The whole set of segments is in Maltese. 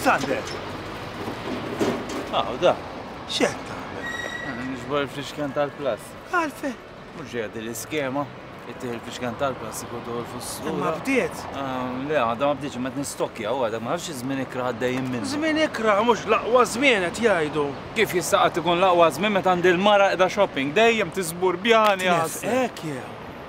Sander! Aw, da, xed tagħmel? Nixbor il-fixken tal-plas. Għalfe? Mhux ġejja l-iskema, ittieħ il-fixken tal-plas ikun tuħu l-fussura. Ma bdiet? Ah, le, għadha ma bdietx ma nistokja u għadha ma nafx iż-żmien ikra għaddejjem minn. Żmien ikra mhux l-aqwa żmien qed jgħidu. Kif jista' qatt ikun l-aqwa żmien meta għandi l-mara qiegħda shopping dejjem tiżbur bjani għas. Hekk jew.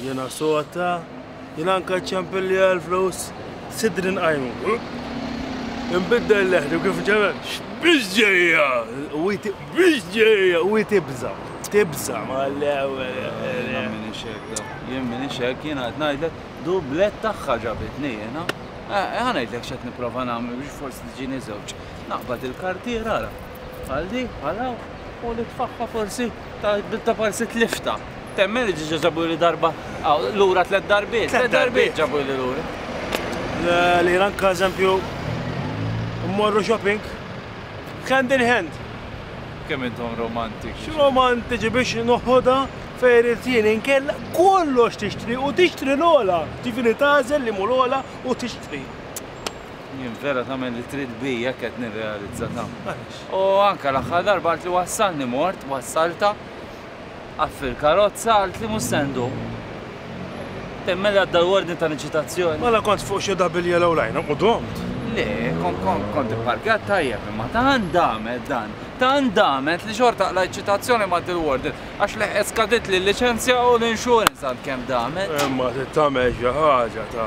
Jiena sota, jiena anka ċċempilli għall-flus, sidri nqajmu. Inbiddel leħni u kif ġememx, biex ġejja! U biex ġejja! U tibża, tibża ma l-ewwel. Jiena minni xekda, jien minni xek, jiena qed ngħidlek dublet tagħha ġabitni jiena. Ħa ngħidlek x'qed nipprova nagħmel biex forsi tiġini żewġ. Naqbad il-kartiera ara. Bħal di, bħal hawn, u li tfakka forsi ta' bidda parsi tlifta. Temmen li ġiġa ġabu li darba, lura tlet darbiet, tlet darbiet ġabu li lura. Li ranka eżempju, mmorru shopping, hand in hand. Kemm intom romantiċi. Romantiċi biex noħodha fejn il-tien inkella kollox tixtri u tixtri l-ola. Ġifieri tażel li mhu l-ola u tixtri. Jien vera tagħmel li trid bi jekk qed nirrealizza ta. U anke l-aħħar darba għalt li wassalni mort, wassalta. Għaf fil-karozza għalt li mhux se nduq. Temmel għadda l-wordni ta' l-inċitazzjoni. Mela kont fuq xi double yellow line u dumt? Le, kont ipparkjat tajjeb imma tant damet dan, tant damet li xorta qlajt ċitazzjoni ma' dil-wordni għax leħqet skaditli l-liċenzja u l-insurance għal kemm damet. Imma trid tagħmel xi ħaġa ta.